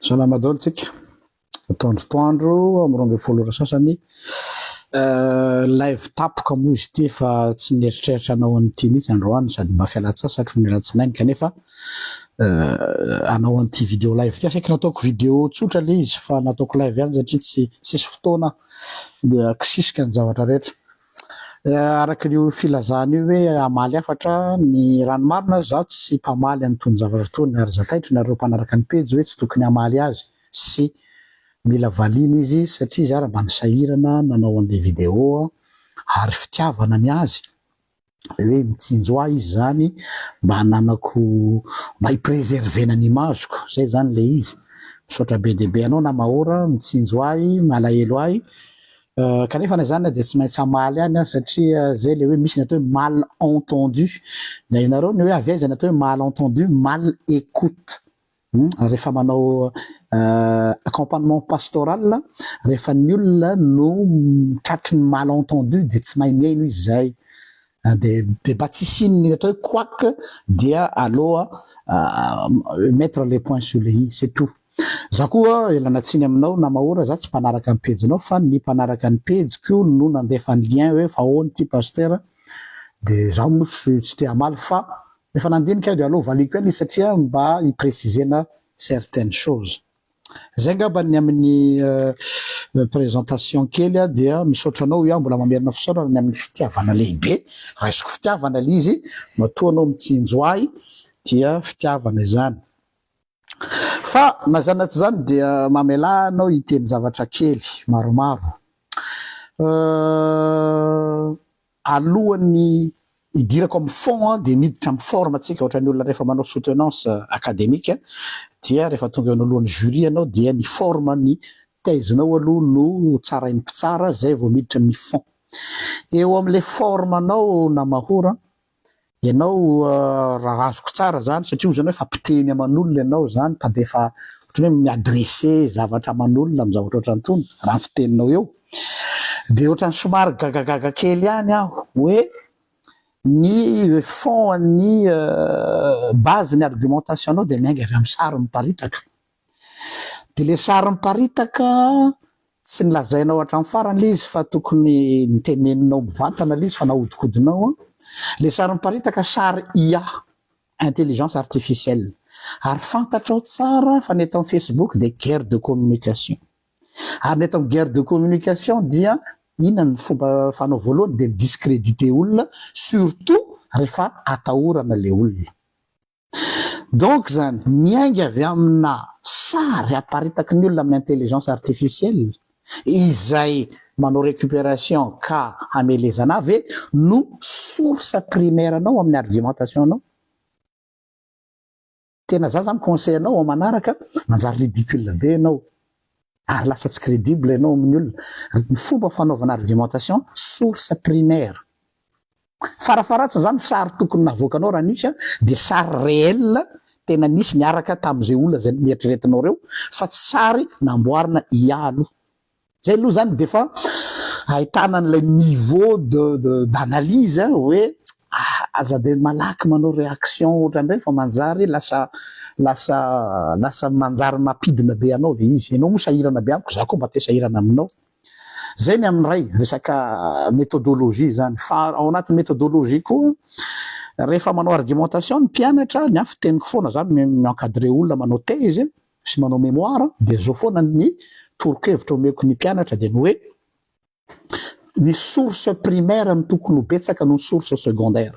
Salama daholo tsika. Ataondro toandro amin'ny roa ambin'ny folo ora sasany. Euh, live tapoka moa izy ity fa tsy nieritreritra anao an'ity mihitsy androany sady mba fialantsasatro ny alatsinainy kanefa euh, anao an'ity vidéo live ity asaiky nataoko vidéo tsotra le izy fa nataoko live ihany satria tsy tsisy fotoana dia kisisika ny zavatra rehetra Araka io filazana io hoe hamaly hafatra ny ranomarina ary izaho tsy mpamaly an'itony zavatra itony ary zakaiko nareo mpanaraka ny pejy hoe tsy tokony hamaly azy sy mila valiana izy satria izy ary mba nisahirana nanao an'ilay video ary fitiavana ny azy dia hoe mitsinjo ahy izy izany mba hananako mba hi-preserver-na ny image-ko izay izany ilay izy. Misaotra be dia be anao Namaora mitsinjo ahy, malahelo ahy Kanefa na izany dia tsy maintsy hamaly ihany aho satria zay le hoe misy ny atao hoe mal entendu. Dia hainareo ny hoe avy aiza ny atao hoe mal entendu, mal écoute. Rehefa manao accompagnement pastoral, rehefa ny olona no tratry ny mal entendu dia tsy mahay mihaino izy zay. Dia dia mba tsy hisian'ny atao hoe couac dia aleo mettre le point sur le i, c'est tout. Za koa ialana tsiny aminao Namahora za tsy mpanaraka ny pejinao fa ny mpanaraka ny pejiko no nandefa ny lien hoe fa ahoana ity Pastera dia za moa tsy tsy te hamaly fa efa nandinika aho dia aleo valiako ihany izy satria mba hi-preciser-na certaines choses. Zay ngamba ny amin'ny présentation kely dia misaotra anao hoy aho mbola mamerina fisaorana ny amin'ny fitiavana lehibe raisiko fitiavana le izy matoa anao mitsinjo ahy dia fitiavana izany fa na izany na tsy izany dia mamelà anao hiteny zavatra kely maromaro Alohan'ny hidirako amin'ny fond dia miditra amin'ny forme antsika ohatran'ny olona rehefa manao soutenance academique dia rehefa tonga eo anoloan'ny jury ianao dia ny forme ny thèse nao aloha no tsarain'ny mpitsara zay vao miditra amin'ny fond. Eo amin'ilay forme nao Namahor an, Ianao raha azoko tsara zany satria ozy anao efa mpiteny aman'olona ianao zany mpandefa otrany hoe mi-adresse zavatra aman'olona am zavatra otrany tony raha ny fiteninao eo de otrany somary gagagaga kely ihany aho hoe ny fond an'ny base ny argumentation-nao de miainga avy am sary miparitaka Dia ilay sary miparitaka tsy nolazainao hatramin'ny farany ilay izy fa tokony noteneninao mivantana ilay izy fa nahodikodinao an! Ilay sary miparitaka sary IA, intelligence artificielle, ary fantatrao tsara fa ny eto amin'ny Facebook dia guerre de communication. Ary ny eto amin'ny guerre de communication dia inona ny fomba fanao voalohany dia mi-discrediter olona surtout rehefa atahorana ilay olona. Donc zany miainga avy amina sary aparitaky ny olona amin'ny intelligence artificielle izay manao récupération ka hamelezana ahy ve no source primaire anao amin'ny argumentation anao? Tena za zany conseil anao amin'ny manaraka manjary ridicule be ianao ary lasa tsy crédible ianao amin'ny olona, ny fomba fanaovana argumentation source primaire Farafaharatsa zany sary tokony navoakanao raha nisy an dia sary réel tena nisy niaraka tamin'izay olona izay neritreretinao reo fa tsy sary namboarina IA aloha. Zay aloha zany defa ahitana an'ilay niveau de de d'analyse hoe aza dia malaky manao réaction otran'ireny fa manjary lasa lasa lasa manjary mampidina be anao le izy. Enao moa sahirana be amiko za koa mba te sahirana aminao. Izay ny amin'ny iray, resaka methodologie izany. Fa ao anatin'ny methodologie koa, rehefa manao argumentation ny mpianatra, ny ahy fiteniko foana za mi- mi-encadrer olona manao thèse sy manao mémoire, dia izao foana ny toro-kevitra omeko ny mpianatra dia ny hoe, ny source primaire no tokony ho betsaka noho ny source secondaire.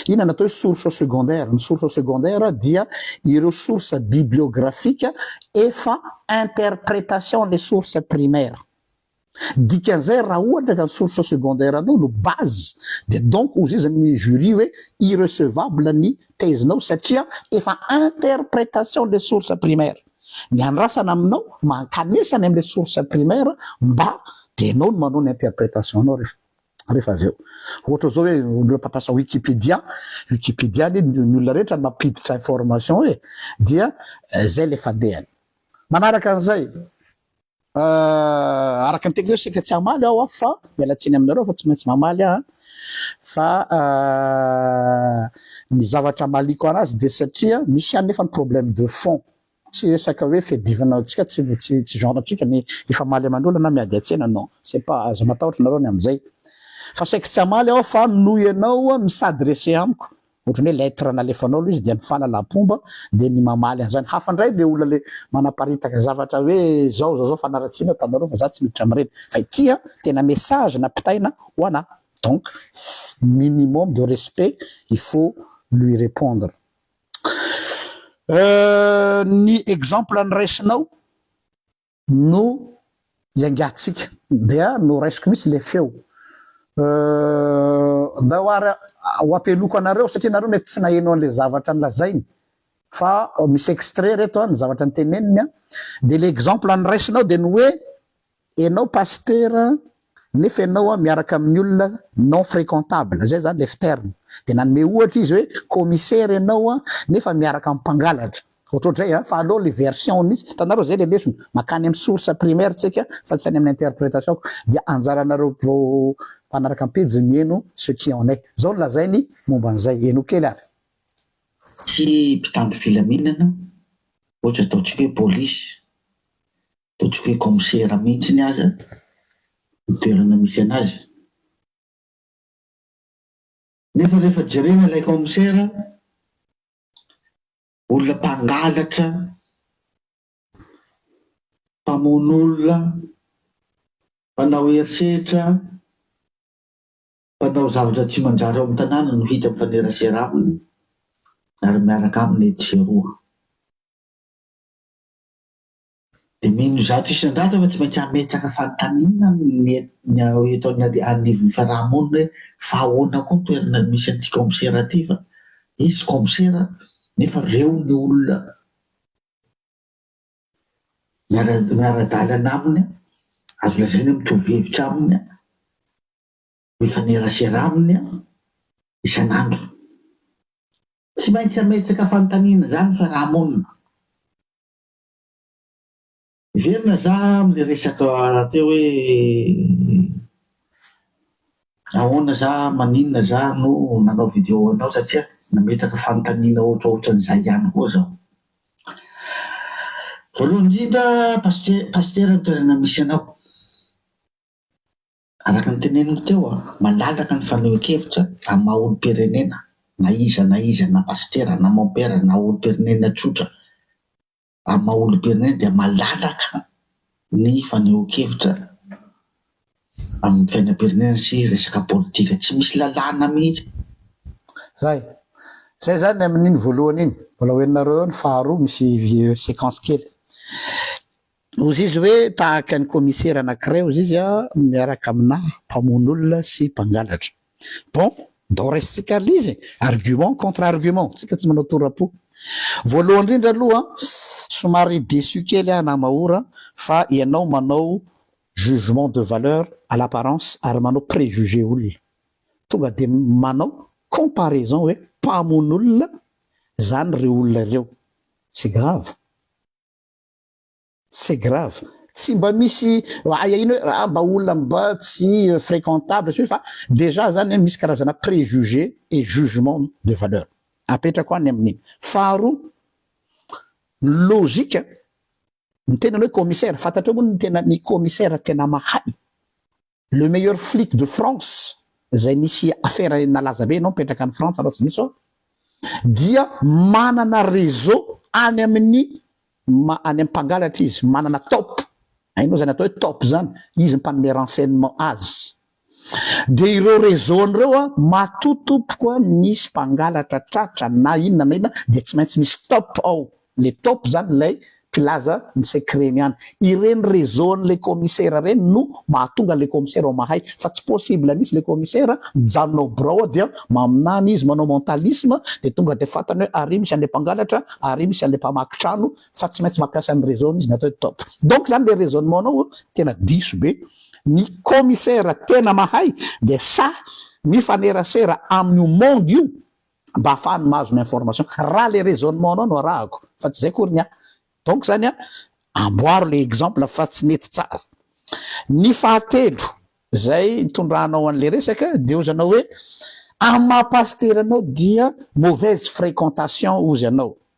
Inona no atao hoe source secondaire? Ny source secondaire dia ireo source bibliografika efa interpretation an'ilay source primaire. Dikan'izay raha ohatra ka ny source secondaire anao no base dia donc hozizan'ny jury hoe irrecevable ny thèse-nao satria efa interpretation an'ilay source primaire. Ny andrasana aminao mba hankanesa any amin'ilay source primaire mba dia ianao no manao ny interpretation-nao rehefa. rehefa avy eo. Ohatra zao hoe olona mpampiasa Wikipedia, Wikipedia anie ny olona rehetra no mampiditra information e, dia zay le fandehany. Manaraka an'izay, araka ny teniko zao saika tsy hamaly aho an, fa miala tsiny aminareo fa tsy maintsy mamaly aho an, fa ny zavatra amaliako anazy dia satria misy ihany nefa ny problème de fond, Tsy resaka hoe fiadivana antsika tsy tsy genre antsika ny hifamaly aman'olona na miady an-tsena non c'est pas aza matahotra nareo ny amin'izay fa saiky tsy hamaly aho fa noho ianao mi-s'adresser amiko ohatrany hoe lettre nalefanao aloha izy dia mifanalam-pomba dia ny mamaly an'izany hafa indray le olona le manaparitaka zavatra hoe zao zao zao fanaratsiana ataonareo fa za tsy miditra amin'ireny fa ity an tena message nampitaina ho anah donc minimum de respect il faut lui repondre. Ny exemple noraisinao no iangatsika dia noraisiko mihitsy le feo mba ho ary ho ampeloko anareo satria nareo mety tsy naheno anle zavatra nolazainy fa misy extrait reto ny zavatra noteneniny dia le exemple noraisinao dia ny hoe Enao pasitera nefa enao miaraka amin'ny olona non fréquentable, zay zany lef terme, de nanome ohatra izy hoe commissaire enao nefa miaraka amin'ny mpangalatra, ohatrohatrizay an, fa aleo le version mihitsy, hitanareo zay le lesona, makany amin'ny source primaire tsika fa tsy any amin'ny interprétation, dia anjaranareo mpanaraka ny pejy mihaino ce qui en est, zao no lazainy momba an'izay, henoy kely ary. Tsy mpitandro filaminana ohatra ataontsika hoe police dia tsy hoe kaomisera mihitsiny aza ny toerana misy anazy. Nefa rehefa jerena ilay kaomisera, olona mpangalatra, mpamono olona, mpanao herisetra, mpanao zavatra tsy manjary ao amin'ny tanàna no hita mifanerasera aminy ary miaraka aminy etsy sy eroa. Dia mino zato isan-jato fa tsy maintsy hametraka fanontaniana ny eto anivon'ny fiaraha-monina hoe fa ahoana koa ny toerana misy an'ity kaomisera ity fa izy kaomisera nefa reo ny olona miara-dalana aminy, azo lazaina hoe mitovy hevitra aminy, mifanerasera aminy isan'andro. Tsy maintsy hametraka fanontaniana izany ny fiaraha-monina. Miverina za amle resaka teo hoe ahoana za maninona za no nanao video anao satria nametraka fanontaniana ohatraohatran'izay ihany koa zaho. Voalohany indrindra paste- pastera ny toerana misy anao. Araka ny teneniny teo, malalaka ny fanehoan-kevitra amin'ny maha olom-pirenena na iza na iza na pasitera na mompera na olom-pirenena tsotra amin'ny maha olom-pirenena dia malalaka ny fanehoan-kevitra amin'ny fiainam-pirenena sy resaka politika. Tsy misy lalàna mihitsy. Zay. Zay zany ny amin'iny voalohany iny. Mbola ho henonareo eo ny faharoa misy séquence kely. Hozy izy hoe, Tahaka ny kaomisera anankiray hozy izy aho miaraka aminà mpamono olona sy mpangalatra. Bon, ndao raisintsika ary lay izy e! Argument contre argument, tsika tsy manao tora-po. Voalohany indrindra aloha, somary déçu kely aho Namahora fa ianao manao jugement de valeur à l'apparence ary manao préjugé olona. Tonga dia manao comparaison hoe mpamono olona izany ireo olona ireo. C'est grave. C'est grave, tsy mba misy ahiahiana hoe ah mba olona mba tsy fréquentable sy ny sisa fa déjà zany misy karazana préjugé et jugement de valeur apetrako any amin'iny. Faharoa, ny logique, ny tenany hoe commissaire, fantatrao moa ny tenan'ny commissaire tena mahay? Le meilleur flic de France izay nisy affaire nalaza be ianao mipetraka any Frantsa raha tsy diso aho dia manana réseau any amin'ny ma any amin'ny mpangalatra izy manana top hainao izany atao hoe top izany izy mpanome renseignement azy dia ireo réseau any ireo a matoa tompoko a misy mpangalatra tratra na inona na inona dia tsy maintsy misy top ao Le top zany ilay mpilaza ny secret ny any. Ireny réseau an'le commissaire reny no mahatonga le commissaire ao mahay fa tsy possible mihitsy le commissaire mijanona ao birao ao dia maminany izy manao mentalisme dia tonga dia fantany hoe ary misy an'le mpangalatra ary misy an'le mpamaky trano fa tsy maintsy mampiasa ny réseau ny izy ny atao hoe top. Donc zany le raisonnement nao tena diso be. Ny commissaire tena mahay dia sahy mifanerasera amin'io monde io mba hahafahany mahazo ny information raha le raisonnement anao no arahako fa tsy zay akory ny ahy donc zany a amboaro le exemple fa tsy nety tsara ny fahatelo zay itondranao anle resaka de ozy anao hoe amin'ny maha pasitera anao dia mauvaise fréquentation ozy anao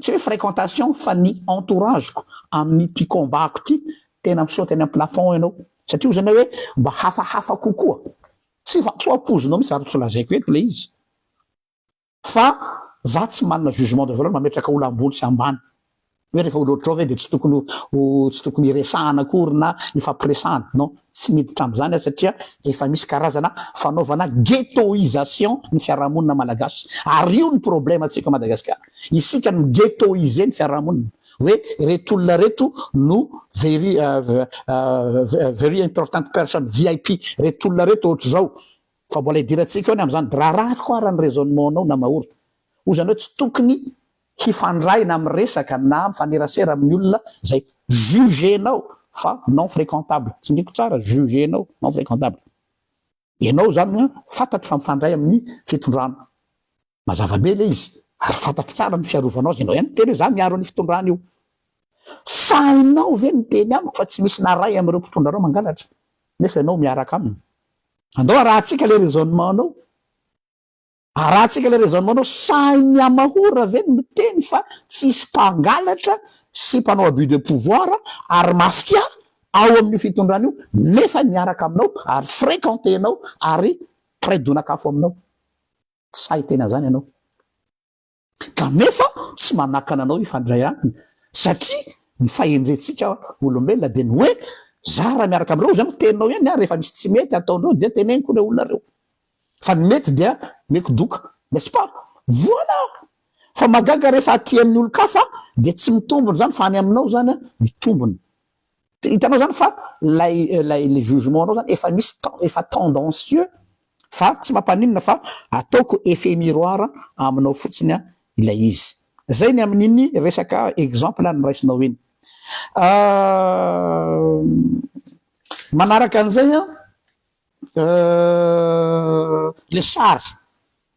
tsy hoe fréquentation fa ny entourage-ko amin'ity combat-ko ity tena misaoty any am-plafond ianao satria hoy ianao hoe mba hafahafa kokoa tsy fa tsy ho ampoizinao mihitsy ary tsy ho lazaiko eto ilay izy fa za tsy manana jugement de valeur mametraka olona ambony sy ambany hoe rehefa olo ohatrao ve dia tsy tokony ho tsy tokony hiresahana akory na hifampiresahana non tsy miditra amin'izany aho satria efa misy karazana fanaovana ghettoisation ny fiarahamonina malagasy ary io ny problème antsika Madagascar isika mi ghettoiser ny fiarahamonina hoe ireto olona ireto no very very important person vip ireto olona ireto ohatr'izao fa mbola idirantsika eo ny amin'izany raha ratsy koa ara ny raisonnement-nao Namaoro hoy izany hoe tsy tokony hifandray na miresaka na mifanerasera amin'ny olona izay jugenao fa non fréquentable, tsindriko tsara, jugenao non fréquentable, ianao izany an fantatro fa mifandray amin'ny fitondrana, mazava be ilay izy, ary fantatro tsara ny fiarovanao azy, ianao ihany miteny hoe za miaro an'io fitondrana io, sahinao ve miteny amiko fa tsy misy na iray amin'ireo mpitondra anao mangalatra nefa ianao miaraka aminy? Andao arahantsika ilay raisonnement-nao. Arahantsika ilay raisonnement nao, sahin'ny Yamahora ve ny miteny fa tsy hisy mpangalatra sy mpanao abus de pouvoir ary mafia ao amin'io fitondrana io nefa miaraka aminao ary frequentenao ary mpiray donak'afo aminao? Tsy sahy hiteny an'izany ianao. Kanefa tsy manakana anao hifandray aminy satria ny fahendrentsika olombelona dia ny hoe za raha miaraka amin'ireo zany teninao ihany ary rehefa misy tsy mety ataondreo dia teneniko ireo olona ireo fa ny mety dia meko doka n'est-ce pas? Voilà! Fa mahagaga rehefa aty amin'ny olon-kafa dia tsy mitombina izany fa any aminao izany mitombina. Hitanao zany fa lay lay le jugement nao zany efa misy ten efa tendancieux fa tsy mampaninona fa ataoko effet miroir aminao fotsiny ilay izy. Zay ny amin'iny resaka exemple noraisinao iny. Manaraka an'izay an le sary.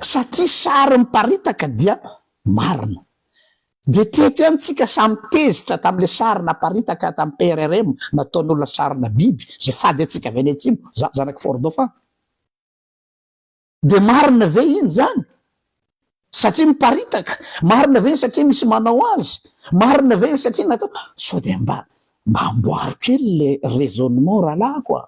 satria sary miparitaka dia marina. Dia teto ihany tsika samy tezitra tamle sary naparitaka tam PRRM nataon'olona sarina biby zay fady antsika avy any atsimo za zanaky fort dauphin. Dia marina ve iny zany satria miparitaka? Marina ve iny satria misy manao azy? Marina ve iny satria natao? Sao dia mba mba amboaro kely le raisonnement rahalahiko a!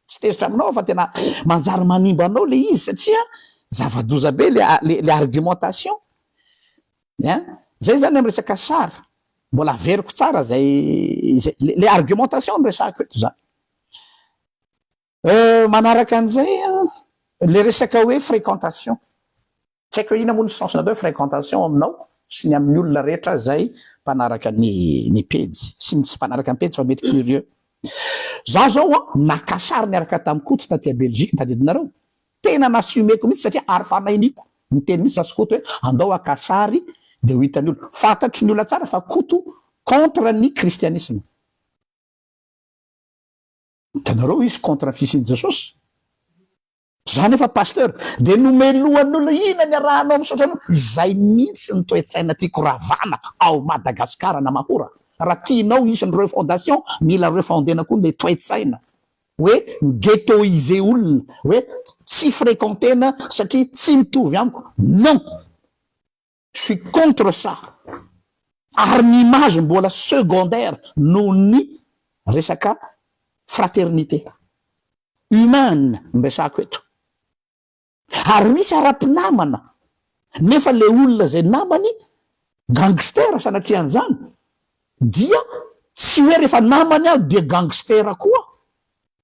Tsy tezitra aminao aho fa tena manjary manimba anao le izy satria zava-doza be le argumentation e an! Zay zany am resaka sary mbola averiko tsara zay le argumentation no resahiko eto zany. Manaraka an'izay an, le resaka hoe fréquentation, Tsy haiko hoe inona moa ny sens natao hoe fréquentation aminao sy ny amin'ny olona rehetra izay mpanaraka ny ny pejy sy ny tsy mpanaraka ny pejy fa mety curieux. Izaho izao an, naka sary niaraka tamin'i Koto taty Belgique tadidinareo. Tena n'assumer-ko mihitsy satria ary fanahiniko niteny mihitsy za sy Koto hoe andao haka sary dia ho hitan'ny olona. Fantatry ny olona tsara fa Koto contre ny kristianisma. Hitanareo izy contre ny fisian'i Jesosy. Za nefa pasteur de nomelohan'olona ina ny arahanao misaotra anao. Izay mihintsy ny toetsaina tiako ravana ao Madagascar Namahora raha tianao hisy ny refondation mila refondena koa le toetsaina hoe mi-ghettoiser olona hoe tsy frekentena satria tsy mitovy amiko non! Je suis contre ça, ary ny image mbola secondaire noho ny resaka fraternité humaine no resahako eto, ary misy ara-pinamana nefa le olona izay namany gangster sanatrian'izany dia tsy hoe rehefa namany aho dia gangster koa,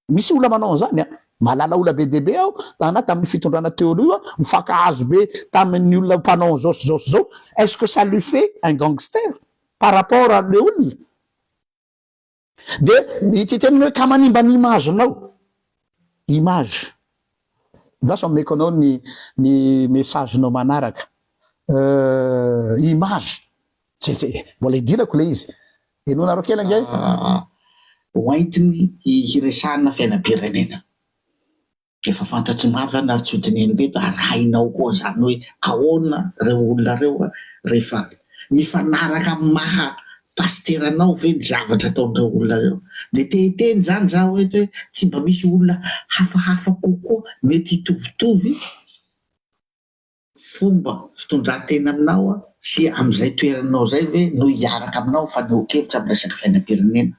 Misy olona manao an'izany an! Mahalala olona be dia be aho, tana tamin'io fitondrana teo aloha io an! Mifankahazo be tamin'ny olona mpanao an'izao sy izao sy izao. Est-ce que ça lui fait un gangster par rapport an'ilay olona? Dia ity teniny hoe ka manimba ny image-nao. Image? Lasa omeko anao ny ny message-nao manaraka. Euh, image? Tse tse, mbola idirako ilay izy. Henonareo kely ange. Hoentiny hiresahana fiainam-pirenena. Efa fantatr'i Marlana ary tsy ho dinihiny teto ary hainao koa izany hoe ahoana ireo olona ireo rehefa mifanaraka amin'ny maha pasitera anao ve ny zavatra ataon'ireo olona ireo. Dia te hiteny izany izaho hoe hoe tsy mba misy olona hafahafa kokoa mety hitovitovy? fomba fitondratena aminao sy amin'izay toeranao izay ve no hiaraka aminao mifanehoan-kevitra amin'ny resaka fiainam-pirenena?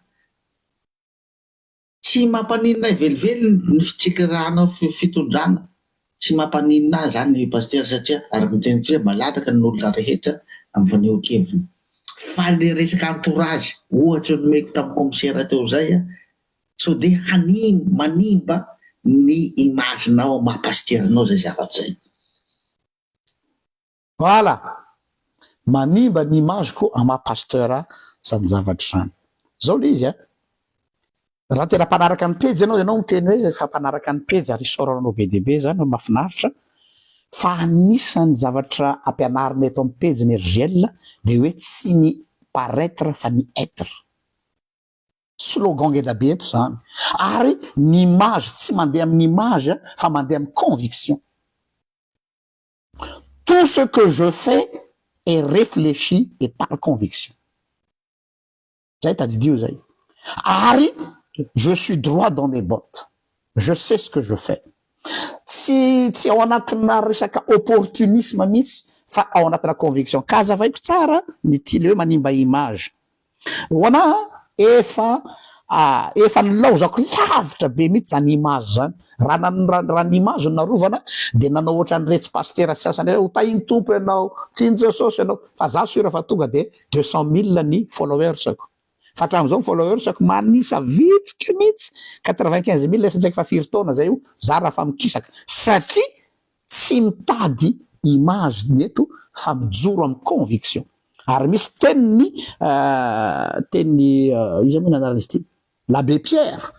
Tsy mampaninona ahy velively ny fitsikerahanao fitondrana, tsy mampaninona ahy izany ry Pasitera satria araka ny teninao dia malalaka ny olona rehetra amin'ny fanehoan-keviny. Fa ilay resaka entourage, ohatra nomeko tamin'ny kaomisera teo izay, sao dia hanimba, manimba ny image nao maha pasteur nao zay zavatra zay. Voilà! Manimba ny image ko an maha pasteur zany zavatra zany. Zao le izy an! Raha tena mpanaraka ny pejy ianao, ianao miteny hoe efa mpanaraka ny pejy ary isaorana anao be dia be zany hoe mafinaritra, fa anisany zavatra ampianarina eto am pejy ny RGL dia hoe tsy ny paraître fa ny être. Slogan ngeda be eto izany. Ary ny image tsy mandeha amin'ny image fa mandeha amin'ny conviction. Tout ce que je fais est réfléchi et par conviction. Zay tadidio zay. Ary je suis droit dans mes bottes. Je sais ce que je fais. Tsy tsy ao anatina resaka opportunisme mihitsy fa ao anatina conviction. Ka azavaiko tsara ny tyle hoe manimba image. Hoana a! efa a! efa nilaozako lavitra be mihitsy zany image zany, raha nan raha ny image no narovana dia nanao otran'iretsy pasitera sasany iretsy, hotahin'ny Tompo ianao, tian'i Jesosy ianao, fa za sur fa tonga dia deux cent mille ny followers-ko, fa hatramin'izao ny followers-ko manisa vitsika mihitsy, quatre vingt quinze mille efa tsy haiko fa firy taona zay io za raha fa mikisaka, satria Tsy mitady image ny eto fa mijoro amin'ny conviction. Ary misy teniny teniny iza moa ny anarany izy ity? L'Abbé Pierre.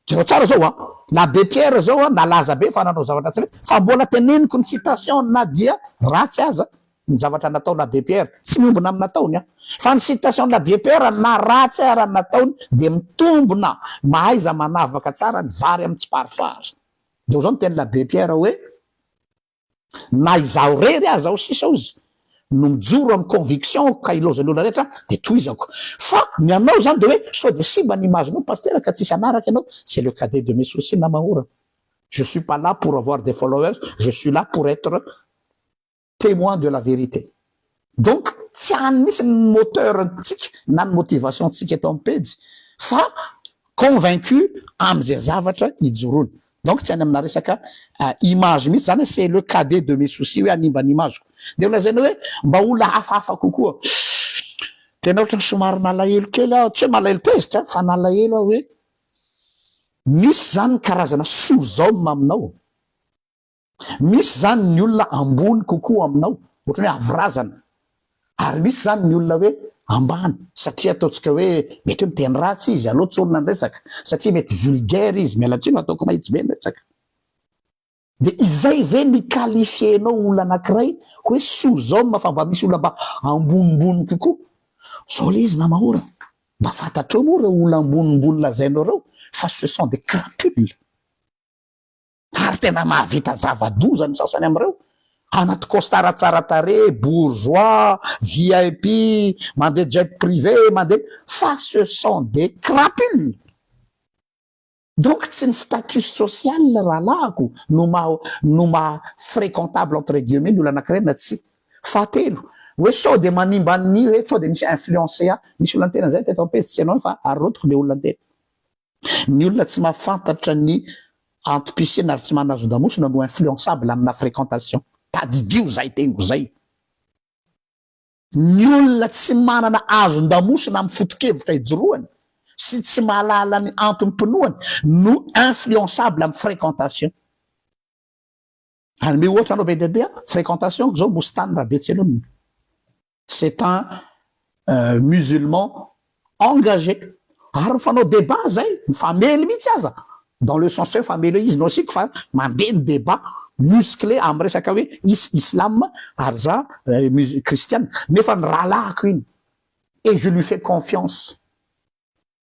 Jereo tsara zao a! L'Abbé Pierre zao a nalaza be fa nanao zavatra tsy mety fa mbola teneniko ny citation na dia ratsy aza ny zavatra natao l'Abbé Pierre. Tsy miombona amin'ny nataony aho. Fa ny citation l'Abbé Pierre na ratsy ara ny nataony dia mitombona mahaiza manavaka tsara ny vary amin'ny tsiparifary. Dia izao ny tenin'ny Abbé Pierre hoe, Na izaho irery aza ao sisa ozy no mijoro amin'ny conviction-ko ka ilaozan'ny olona rehetra aho dia tohizako. Fa ny anao izany dia hoe sao dia simba ny image-nao Pasitera ka tsisy hanaraka ianao, c'est le cadet de mes soucis namahorako. Je suis pas là pour avoir des followers, je suis là pour être. Témoin de la vérité. Donc tsy any mihitsy ny moteur ntsika na ny motivation ntsika eto amin'ny pejy fa convaincu amin'izay zavatra ijoroany. Donc tsy any amina resaka image mihitsy zany hoe c'est le cadet de mes soucis hoe hanimba ny image-ko. Dia ho lazaina hoe mba olona hafahafa kokoa. Tena ohatran'ny somary nalahelo kely aho, tsy hoe malahelo tezitra fa nalahelo aho hoe misy zany ny karazana soa zao ny maminao. Misy zany ny olona ambony kokoa aminao, ohatra hoe avo razana, ary misy zany ny olona hoe ambany satria ataontsika hoe mety hoe miteny ratsy izy, aleo tsy olona ny resaka satria mety vulgaire izy, miala tsiny fa ataoko mahitsy be ny resaka. Dia izay ve no hi-qualifier-nao olona anankiray hoe sur homme fa mba misy olona mba ambonimbony kokoa? Zao le izy nama o! Mba fantatrao moa ireo olona ambonimbony lazainao ireo fa ce sont des crapules. Ary tena mahavita zava-doza ny sasany amin'ireo, anaty costard tsara tarehy, bourgeois, VIP, mandeha jet privé, mandeha, fa ce sont des crapules! Donc tsy ny status social rahalahiko no maha, no maha fréquentable entre guillemets ny olona anankiray na tsia. Fahatelo, hoe sao dia manimba ny, hoe sao dia misy influencer ahy. Misy olona niteny an'izay teto am-pejy, tsy ianao fa arotiko ilay olona niteny. Ny olona tsy mahafantatra ny antom-pisiana ary tsy manana zondamosina no influençable amina fréquentation. Tadidio izay teniko izay. Ny olona tsy manana azon-damosina amin'ny foto-kevitra ijoroany sy tsy mahalala ny antom-pinoany no influençable amin'ny fréquentation. Hanome ohatra anao be dia be aho, fréquentation-ko zao Mostany Rabetselona. C'est un euh, musulman engagé. Ary mifanao débat zay, mifamely mihitsy aza. Dans le sens hoe famely hoe izy no asiako fa mandeha ny débat musclé amin'ny resaka hoe is islam ary za euh, mus- kristiana. Nefa ny rahalahiko iny. Et je lui fais confiance.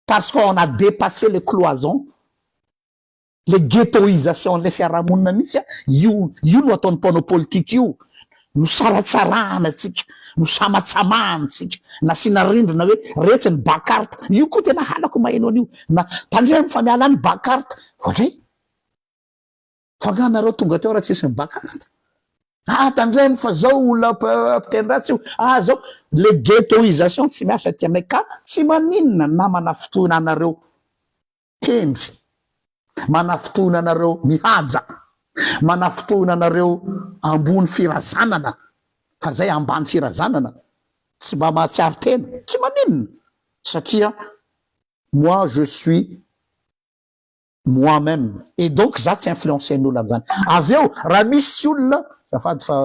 Parce qu'on a dépassé les cloisons. Le ghettoisation lay fiarahamonina mihitsy a, io io no ataon'ny mpanao politika io, no saratsarahana antsika, no samatsamahana antsika, nasiana rindrina hoe retsy ny ba carte, io koa tena halako maheno an'io, na tandremo fa miala any ba carte, vao dray, fa nga nareo tonga teo raha tsisy ny ba carte, ah tandremo fa zao olona mpiteny-dratsy io, ah zao, le ghettoisation tsy miasa aty anay ka tsy maninona namana fotoana anareo, Hendry, manafintohina anareo mihaja, manafintohina anareo ambony firazanana, fa zay ambany firazanana tsy mba mahatsiaro tena, tsy maninona satria moi je suis moi meme et donc za tsy influencen'olona amzany, avy eo raha misy olona, azafady fa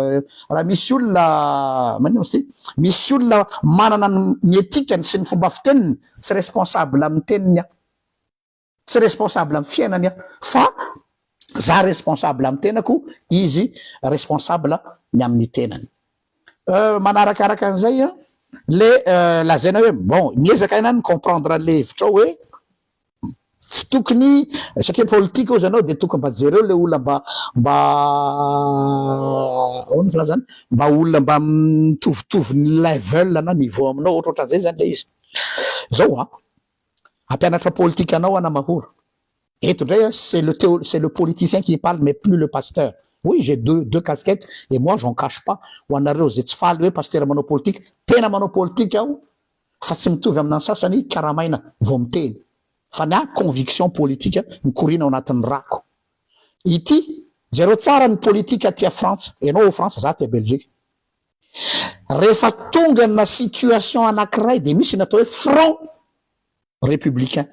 raha misy olona maninona moa izy ty, misy olona manana ny etikany sy ny fomba fiteniny Tsy responsable amin'ny teniny aho. Tsy responsable amin'ny fiainany aho. Fa za responsable amin'ny tenako, izy responsable ny amin'ny tenany. Euh, manarakaraka an'izay an, le lazaina hoe bon, miezaka ianao mi-comprendre an'le hevitrao hoe Tsy tokony satria politika ozy anao de tokony mba jereo le olona mba mba ahoana ny filazana mba olona mba mitovitovy ny level na niveau aminao ohatra ohatran'izay zany le izy zao a ampianatra politika anao ana mahoro eto ndray a c'est le teo c'est le politicien qui parle mais plus le pasteur oui j'ai deux deux casquettes et moi j'en cache pas ho anareo zay tsy faly hoe pasteur manao politika tena manao politika aho fa tsy mitovy amina ny sasany karamaina vao miteny fa ny ahy conviction politika mikoriana ao anatin'ny rako ity jereo tsara ny politika aty a frantsa ianao ao frantsa za aty a belgique rehefa tonga na situation anakiray dia misy ny atao hoe front Républicains.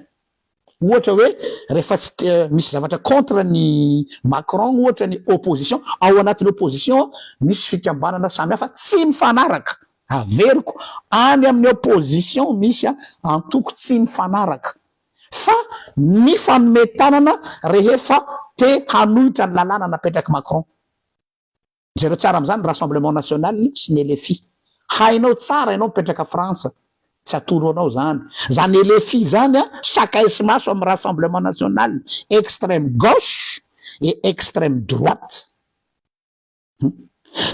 Ohatra hoe rehefa tsy te misy zavatra contre an'i Macron ohatra ny opposition, ao anatin'ny opposition misy fikambanana samy hafa tsy mifanaraka, averiko, any amin'ny opposition misy antoko tsy mifanaraka, fa mifanome tanana rehefa te hanohitra ny lalàna napetrak'i Macron. Jereo tsara amzany rassemblement national sy ny LFI. Hainao tsara ianao mipetraka frantsa. Tsy atoro anao zany. Zany LFI zany a sakaiso maso am rassemblement national extreme gauche et extreme droite. Hum.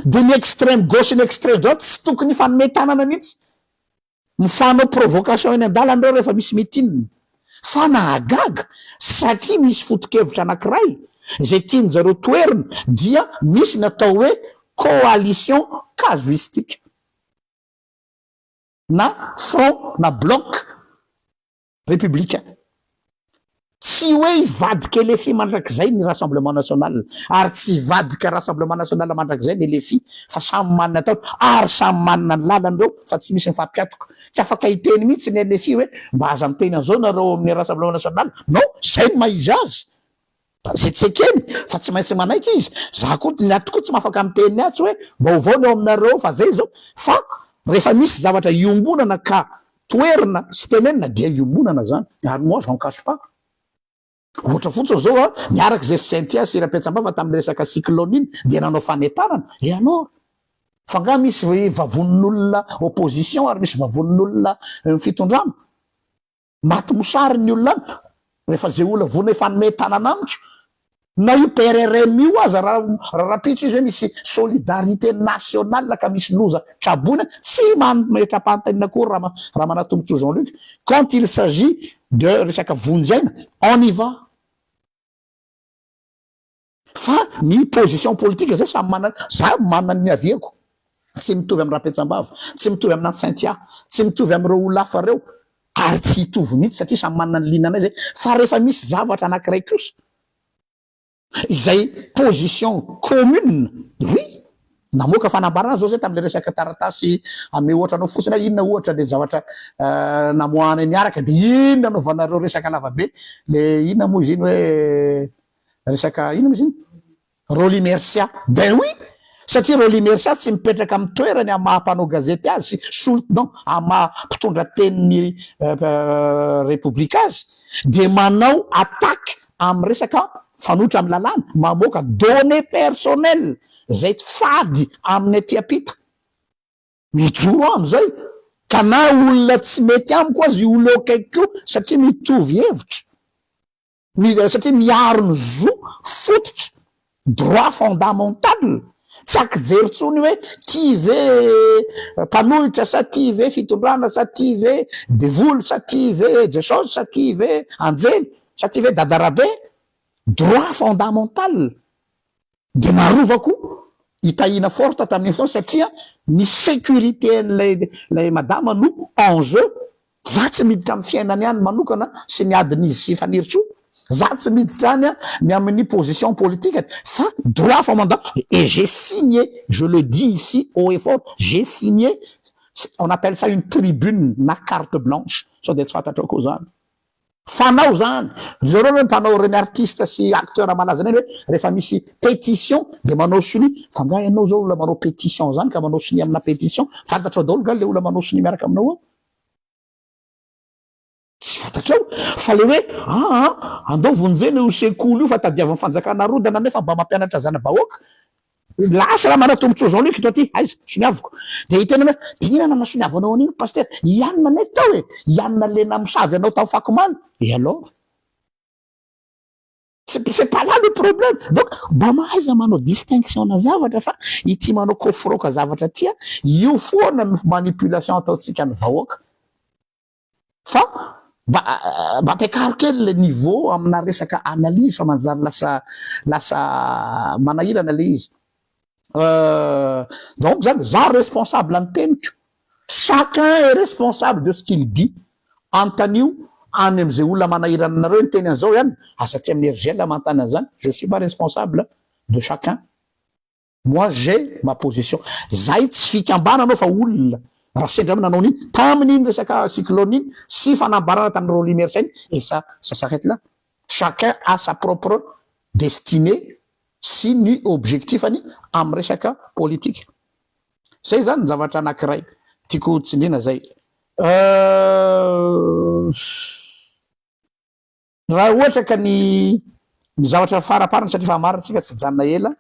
De ny extreme gauche sy ny extreme droite tsy tokony hifanome tanana mihitsy. Mifanao provocation eny an-dalana ireo rehefa misy meeting. Fa nahagaga satria misy foto-kevitra anankiray izay tian-dry zareo toherina dia misy ny atao hoe coalition casuistique na front na bloc Repoblika. Tsy hoe hivadika LFI mandrakizay ny Rassemblement National ary tsy hivadika Rassemblement National mandrakizay ny LFI fa samy manana ny ataony ary samy manana ny lalany ireo fa tsy misy mifampiatoka. Tsy afaka hiteny mihitsy ny LFI hoe mba aza miteny an'izao nareo ao amin'ny Rassemblement National. Non! Izay no maha-izy azy. Tsy ekeny fa tsy maintsy manaiky izy. Za ko ny aty ko tsy mafaka miteny atsy hoe vaovao ny ao aminareo fa zay zao fa refa misy zavatra iombonana ka toerina sy tenenina dia iombonana zany ary moi j'en cache pas ohatra fotsiny zao a niaraka zesy Cynthia sy Rapetsambava taminy resaka cyclone iny dia nanao fanentanana et alors fa nga misy vavonin'olona opposition ary misy vavonin'olona fitondrana. Maty mosary ny olona any rehefa ze olona vorona efa hanome tanana amiko na io PRRM io aza ra rahampitso izy hoe misy solidarité nationale ka misy loza traboina tsy mametrapantenina akory ra ra manatombontsoa Jean Luc quand il s'agit de resaka vonjy aina on y va. Fa ny position politique zay samy manana, za manana ny niaviako, tsy mitovy am Rapetsambava, tsy mitovy amina Cynthia, tsy mitovy amireo olona hafa reo, ary tsy hitovy mihitsy satria samy manana ny ligne-nay zay, fa rehefa misy zavatra anakiray kosa izay position commune, oui, namoaka fanambarana zao zay tamle resaka taratasy ame ohatra anao fotsiny aho inona ohatra le zavatra namoahanay niaraka de inona anaovanareo resaka lavabe le inona moa izy iny hoe Resaka inona moa izy iny? Rolly Mercia. Ben oui! Satria Rolly Mercia tsy mipetraka amin'ny toerany amin'ny maha mpanao gazety azy, solon, non, amin'ny maha mpitondra tenin'ny Repoblika azy, dia manao attaque amin'ny resaka mifanohitra amin'ny lalàna, mamoaka données personnelles, izay tsy fady amin'ny aty ampita. Mijoro aho amin'izay. Ka na olona tsy mety amiko aza io olona eo akaikiko io, satria mitovy hevitra. Mi, satria miaro ny zo fototra, droit fondamental, tsy ankijery tsony hoe ty ve mpanohitra sa ty ve fitondrana sa ty ve devoly sa ty ve jesosy sa ty ve anjely sa ty ve dadarabe, droit fondamental Dia naharova koa i Tahiana Forte tamin'izao satria ny sécurité-n'ilay ilay madama no en jeu. Za tsy miditra amin'ny fiainany any manokana sy ny adin'izy sy Fanirisoa. Za tsy miditra any ny amin'ny position politikany fa droit fa mandat et j'ai signé, je le dis ici haut et fort, j'ai signé, on appelle ça une tribune na carte blanche, sao dia tsy fantatrao koa izany. Fanao zany. Ry zareo aloha mpanao ireny artiste sy acteur malaza ireny hoe rehefa misy petition dia manao sonia. Fa nga ianao zao olona manao petition zany ka manao sonia amina petition. Fantatrao daholo nga le olona manao sonia miaraka aminao ao? Tsy fantatrao. Fa le hoe aa andao vonjena io sekoly io fa tadiavin'ny fanjakana arodana nefa mba mampianatra zana-bahoaka. Lasa raha manana tombotsoa zao leko ity aiza soniaviko dia hiteny hoe diniho anao na soniavo anao anio ny pasitera i anona anay tao e i anona le namosavy anao tao fakomaly et alors c'est c'est pas là le problème donc mba mahaiza manao distinction na zavatra fa ity manao koforoka zavatra tia io foana ny manipulation ataontsika ny vahoaka Fa mba mba ampiakaro kely le niveau amina resaka analyse fa manjary lasa lasa manahirana le izy. Donc zany za responsable ny teniko, chacun est responsable de ce qu'il dit, anontanio any amze olona manahirana anareo ny teny anzao ihany, aza aty aminy RGL manontany anzany, je suis pas responsable de chacun. Moi j'ai ma position. Zahay tsy fikambanana ao fa olona. Raha sendra aminao nanao an'iny tamin' iny resaka cyclone iny sy fanambarana tamin'ny Rolly Mersa iny et ça ça s'arrête là. Chacun a sa propre destinée sy ny objectif-ny amin'ny resaka politika. Zay zany ny zavatra anankiray tiako tsindriana zay. Euh. Raha ohatra ka ny ny zavatra faraparany satria efa marina tsika tsy hijanona ela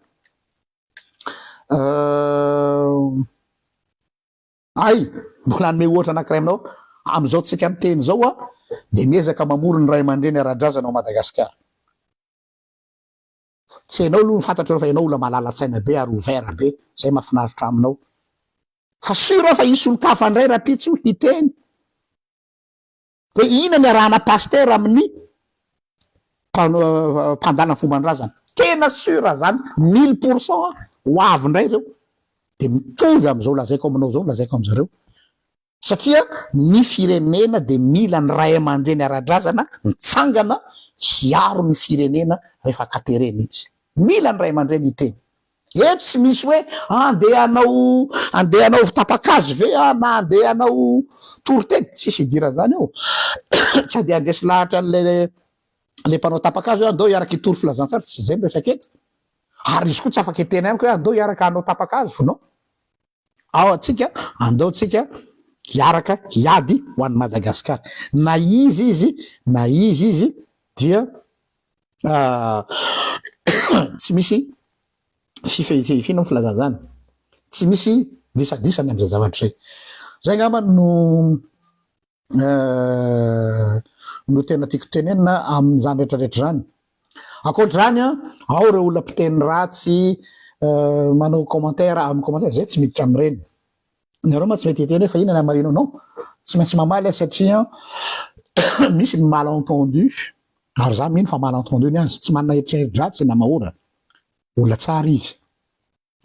ay mbola hanome ohatra anankiray aminao amin'izao tsika miteny izao a dia miezaka mamory ny ray aman-dreny ara-drazana ao Madagasikara tsy ianao aloha ny fantatro fa ianao olona malala-tsaina be ary ouvert be izay mahafinaritra aminao fa sûr aho fa hisy olon-kafa indray rahampitso hiteny Hoe inona ny arahana pasteur amin'ny mpandala ny fomban-drazana? Tena sur zany mille pour cent aho, ho avy indray ireo dia mitovy amin'izao lazaiko aminao izao ny lazaiko amin'zareo satria ny firenena dia mila ny ray aman-dreny ara-drazana mitsangana hiaro ny firenena rehefa katerena izy, mila ny ray aman-dreny hiteny Eto tsy misy hoe andeha hanao andeha hanaovy tapa-kazo ve aho na andeha hanao toriteny, tsisy idiran'izany eo. Tsy andeha handresy lahatra an'ilay ilay mpanao tapa-kazo hoe andao hiaraka hitory filazantsara, tsy izay ny resaka eto. Ary izy koa tsy afaka hiteny amiko hoe andao hiaraka hanao tapa-kazo, non. Ao antsika andao tsika hiaraka hiady ho an'i Madagasikara. Na iza izy na iza izy dia tsy misy fifehifehifiana ny filazana izany. Tsy misy disadisa ny amin'izay zavatra izay. Izay angamba no no tena tiako tenenina amin'izany rehetra rehetra izany. Ankoatr'izany an, ao ireo olona mpiteny ratsy manao commentaire amin'ny commentaire, izay tsy miditra amin'ireny. Ianareo ma tsy mety hiteny hoe fa inona ny hamarinao? Non, tsy maintsy mamaly aho satria misy ny malentendu, ary izaho mino fa malentendu ny azy, tsy manana eritreritra dratsy i Namahora, olona tsara izy.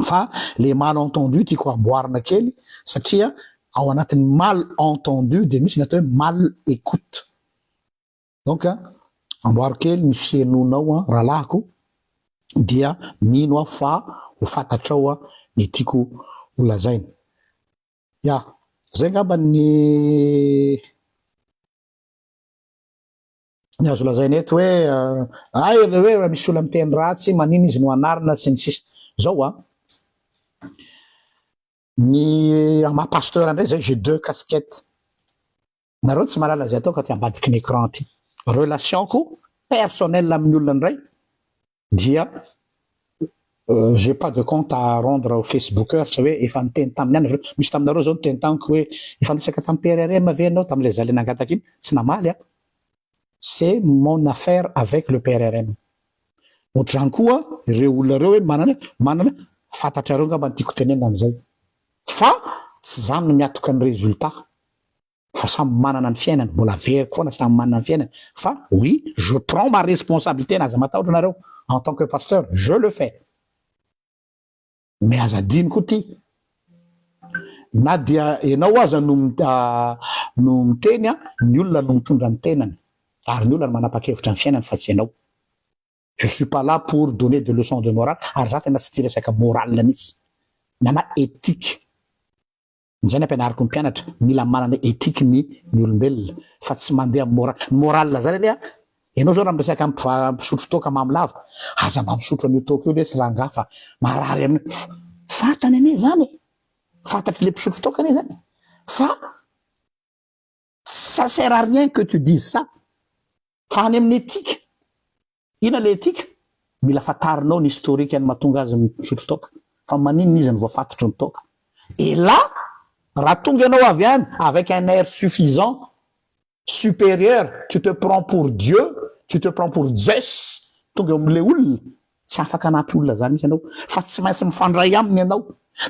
Fa le mal entendu tiako amboarina kely satria ao anatin'ny mal entendu dia misy ny atao hoe mal écoute. Donc amboaro kely ny fihenonao rahalahiko dia mino aho fa ho fantatrao ny tiako ho lazaina. Ya, zay angamba ny. ny azo lazaina eto hoe ay le hoe raha misy olona miteny ratsy manina izy no anarina sy ny sisa zao a ny ama pasteur ndray zay j'ai deux casquettes nareo tsy malala zay ataoko aty ambadiky ny écran aty relation ko personnel amin'ny olona ndray dia j'ai pas de compte à rendre aux facebookers hoe efa niteny taminy ihany nareo, misy taminareo zao niteny tamiko hoe efa niresaka tamin'ny PRRM ve ianao tamin'ilay zalahy nangataka iny? tsy namaly aho, c'est mon affaire avec le PRRM, otrany koa ireo olona ireo hoe manana manana fantatrareo angamba ny tiako tenenina amin'izay fa tsy za no miatoka ny résultat. fa samy manana ny fiainany, mbola averiko foana samy manana ny fiainany fa oui je prends ma responsabilité na aza matahotra nareo en tant que pasteur je le fais mais aza adino koa ty na dia enao aza no no miteny a ny olona no mitondra ny tenany ary ny olona no manapakevitra ny fiainany fa tsy enao je suis pas là pour donner de leçon de morale ary za tena tsy tia resaka morale mihitsy na na éthique Izay nampianariko ny mpianatra, mila manana ethique ny ny olombelona fa tsy mandeha amin'ny moral, ny moral zany anie an, ianao zao raha miresaka amin'ny mpiva, mpisotro toaka mamy lava, aza mba misotro an'io toaka io lesy rangaha fa marary an'i, fantany anie zany e, fantatry le mpisotro toaka anie zany fa. Ça sert à rien que tu dises ça fa any amin'ny éthique ina le éthique mila fatarinao ny historique ny mahatonga azy misotro toaka fa maninona izy no voafatotry ny toaka et là raha tonga ianao avy any avec un air suffisant supérieur tu te prends pour Dieu tu te prends pour Zeus tonga eo amin'ilay olona Tsy afaka hanampy olona izany mihitsy ianao, fa tsy maintsy mifandray aminy ianao,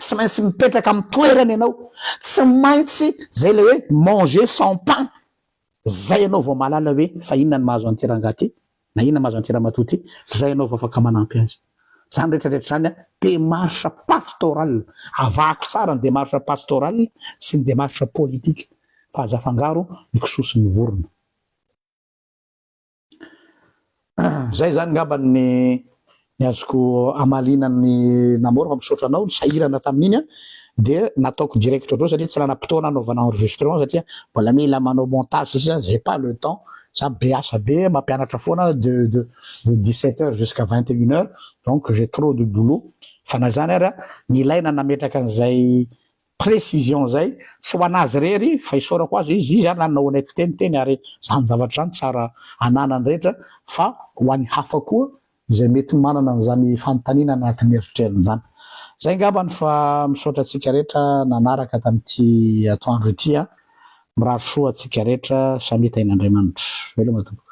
tsy maintsy mipetraka amin'ny toerany ianao, tsy maintsy izay ilay hoe manger sans pain, izay ianao vao mahalala hoe fa inona no mahazo an'ity rangahy ity na inona no mahazo an'ity ramatoa ity, izay ianao vao afaka manampy azy. Izany rehetra rehetra izany démarche pastorale, avahako tsara ny démarche pastorale sy ny démarche politique fa aza afangaro ny kisoa sy ny vorona. Zay zany ngamba ny ny azoko amaliana ny namour fa misaotra anao nisahirana tamin'iny a de nataoko direct ohatr'izao satria tsy nanam-potoana hanaovana enregistrement satria mbola mila manao montage sisa j'ai pas le temps za be asa be mampianatra foana de de de 17 heures jusqu'à 21 heures donc j'ai trop de boulot fa na zany ary a nilaina nametraka an'izay Précision zay tsy ho anazy irery fa isaorako azy izy, izy ary nanao anay fiteniteny ary zany zavatra zany tsara ananany rehetra fa ho any hafa koa izay mety manana an'izany fanontaniana anatin'ny eritreriny zany. Zay ngambany fa misaotra antsika rehetra nanaraka tamin'ity atoandro ity an! Mirary soa antsika rehetra samia tahin'Andriamanitra. Veloma tompoko.